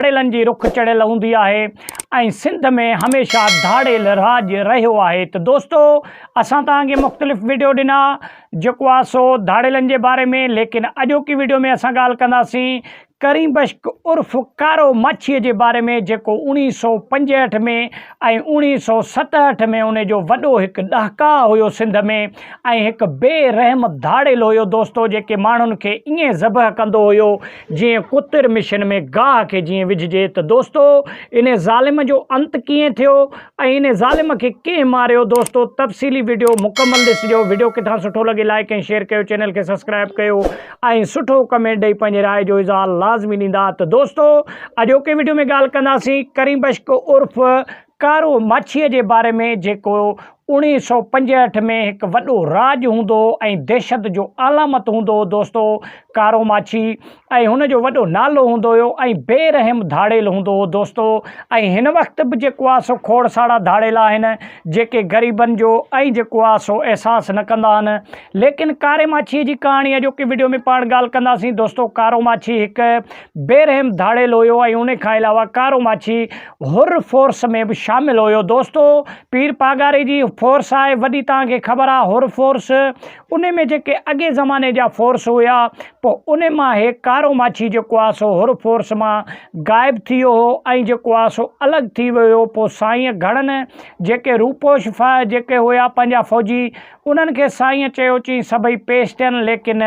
Trillion جي رخ چڙهيل هوندي آهي ۽ سنڌ ۾ هميشه ڌاڙيل راڄ رهيو آهي ته دوستو اسان توهان کي مختلف وڊيو ڏنا جيڪو آهي سو ڌاڙيلن جي باري ۾ ليڪن اڄوڪي وڊيو ۾ اسان ڳالهه ڪنداسين ڪريم بشڪ عرف ڪارو ماڇي جي باري ۾ جيڪو اوڻيهه سو پنجهٺ ۾ ۽ اوڻيهه سو ستهٺ ۾ ان جو وڏو هڪ ڏهڪاء هيو سنڌ ۾ ۽ هڪ بي رحم ڌاڙيل هيو دوستو جيڪي ماڻهن کي ائين ذبح ڪندو هيو جيئن ڪتر مشين ۾ گاهه کي جيئن وجهجي ته دوستو انهي ظالم جو انت ڪيئن ٿيو ۽ انهي ظالم کي ڪنهن ماريو دوستو تفصيلي وڊيو مڪمل ڏسجو وڊيو ڪٿان سٺو لڳي لائيڪ ۽ شيئر ڪيو چينل کي سبسڪرائيب ڪيو ۽ سٺو ڪمينٽ ڏئي پنهنجي راء جو اظهار لازمي ڏيندا ته دوستو اڄوڪي وڊيو ۾ ڳالهه ڪنداسين ڪريم بشڪ عرف ڪارو ماڇيء جي باري ۾ جيڪو اوڻيهه سؤ پنجهٺ ۾ هڪ وڏو راڄ هوندو ۽ دهشت جو علامت هوندو هو دوستو ڪارو ماڇي ۽ هن جو وڏو نالو هوندو هيو ۽ بي رحم ڌاڙيل هوندو هو دوستو ۽ هن وقت به جيڪو آهي سو کوڙ ساڙا ڌاڙيل آهن جيڪي غريبن جو ۽ جيڪو آهي سو احساس نه ڪندا آهن ليڪن ڪاري ماڇيء جي ڪهاڻي اڄوڪي ويڊيو ۾ پاڻ ڳالهه ڪنداسين دوستو ڪارو ماڇي هڪ بي رحم ڌاڙيل هيو ۽ انهي کان علاوه ڪارو ماڇي حر فورس ۾ به شامل هيو دوستو پير پاڳاري جي فورس آهي وڏي توهان کي خبر آهي حر فورس انهي ۾ جيڪي اڳي زماني جا فورس هيا پوء انهي مان هي ڪارو ماڇي جيڪو آهي سو حر فورس مان غائب ٿي ويو هو ۽ جيڪو آهي سو الڳ ٿي ويو هيو پوء سائين گهڻن جيڪي روپوش ڦا جيڪي هيا پنهنجا فوجي انهن کي سائين چيو چين سڀئي پيش ٿين ليڪن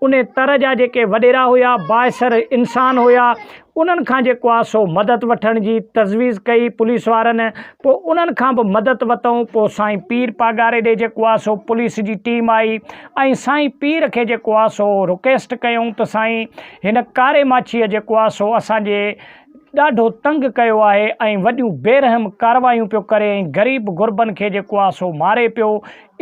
ان تر جا جيڪي وڏيرا هيا، بااثر انسان هيا، انهن کان جيڪو آ سو مدد وٺڻ جي تجويز ڪئي پوليس وارن، پوء انهن کان به مدد وتئون، پوء سائين پير پاڳاري ڏي جيڪو آ سو پوليس جي ٽيم آئي ۽ سائين پير کي جيڪو آ سو رڪيسٽ ڪيئون ته سائين هن ڪاري ماڇيء جيڪو آ سو اسان جي ڏاڍو تنگ ڪيو آهي ۽ وڏيون بيرحم ڪاروايون پيو ڪري ۽ غريب غربن کي جيڪو آ سو ماري پيو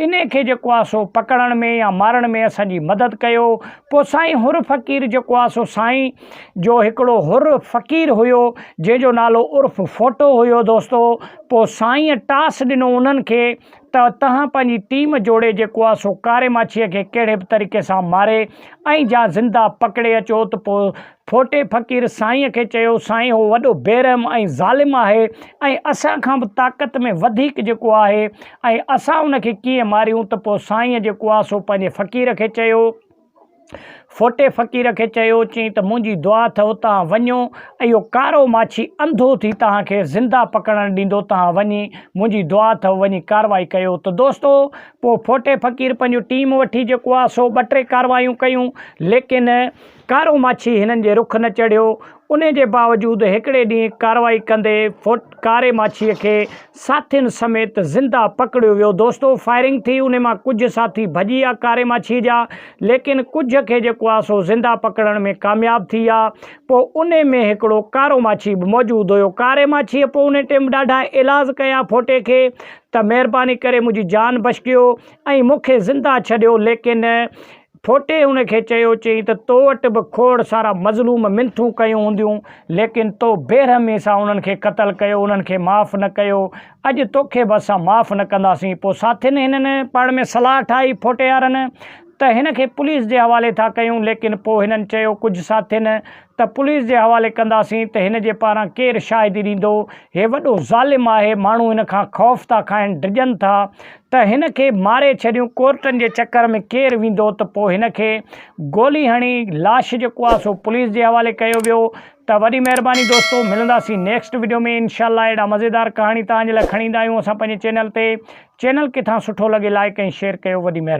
انهي کي جيڪو آ سو پڪڙڻ ۾ يا مارڻ ۾ اسان جي مدد ڪيو. پوء سائين حر فقير جيڪو آ سو سائين جو هڪڙو حر فقير هيو جنهن جو نالو عرف ڦوٽو هيو دوستو پوء سائين ٽاس ڏنو انهن کي ته تهان پنهنجي ٽيم جوڙي جيڪو آ سو ڪاري ماڇيء کي ڪهڙي به طريقي سان ماري ۽ جا زنده پڪڙي اچو ته پوء ڦوٽي فقير سائينء کي چيو، سائين هو وڏو بيرحم ۽ ظالم آهي ۽ اسان کان به طاقت ۾ وڌيڪ جيڪو آهي ۽ اسان ان کي ڪيئن ماريون ته پوء سائينء جيڪو آ سو پنهنجي فقير کي چيو، ڦوٽي فقير کي چيو، چيئي ته منهنجي دعا اٿئو توهان وڃو ۽ اهو ڪارو ماڇي انڌو ٿي توهان کي زنده پڪڙڻ ڏيندو توهان وڃي منهنجي دعا اٿئو وڃي ڪارروائي ڪيو ته دوستو پوء ڦوٽي فقير پنهنجو ٽيم وٺي جيڪو آ سو ٻه ٽي ڪارروايون ڪيون ليڪن ڪارو ماڇي هنن جي رخ نه چڙهيو، انهي جي باوجود هڪڙي ڏينهن ڪارروائي ڪندي فوٽ ڪاري ماڇي کي ساٿين سميت زنده پڪڙيو ويو دوستو فائرنگ ٿي انهي مان ڪجهه ساٿي ڀڄي آ ڪاري ماڇي جا ليڪن ڪجهه کي جيڪو آ سو زنده پڪڙڻ ۾ ڪامياب ٿي آ پو انهي ۾ هڪڙو ڪارو ماڇي به موجود هيو ڪاري ماڇي پو انهي ٽيم ڏاڍا ايلاز ڪيا فوٽي کي ته مهرباني ڪري منهنجي جان بشڪيو ۽ مونکي زنده ڇڏيو ليڪن ٺوٽي هن کي چيو، چيائين ته تو وٽ به کوڙ سارا مظلوم منٿون ڪيون هونديون، ليڪن تو بيرحميء سان انهن کي قتل ڪيو، انهن کي معاف نه ڪيو، اڄ توکي به اسان معاف نه ڪنداسين. پوء ساٿين هنن پاڻ ۾ صلاح ٺاهي ٺوٽيارن ته هن کي پوليس جي حوالي ٿا ڪيون، ليڪن پوء هنن چيو ڪجهه ساٿين ته پوليس جي حوالي ڪنداسين ته هن جي پاران ڪير شاهدي ڏيندو، هي وڏو ظالم آهي، ماڻهو هن کان خوف ٿا کائن، ڊڄن ٿا ته هن کي ماري ڇڏيون ڪورٽن جي چڪر ۾ ڪير ويندو ته پوء هن کي گولي هڻي لاش جيڪو آهي سو پوليس جي حوالي ڪيو ويو ته وڏي مهرباني دوستو ملنداسين نيڪسٽ وڊيو ۾ انشاء الله اهڙا مزيدار ڪهاڻي توهان جي لاء کڻي ايندا آهيون اسان پنهنجي چينل تي چينل ڪٿان سٺو لڳي لائيڪ ۽ شيئر ڪيو وڏي مهرباني.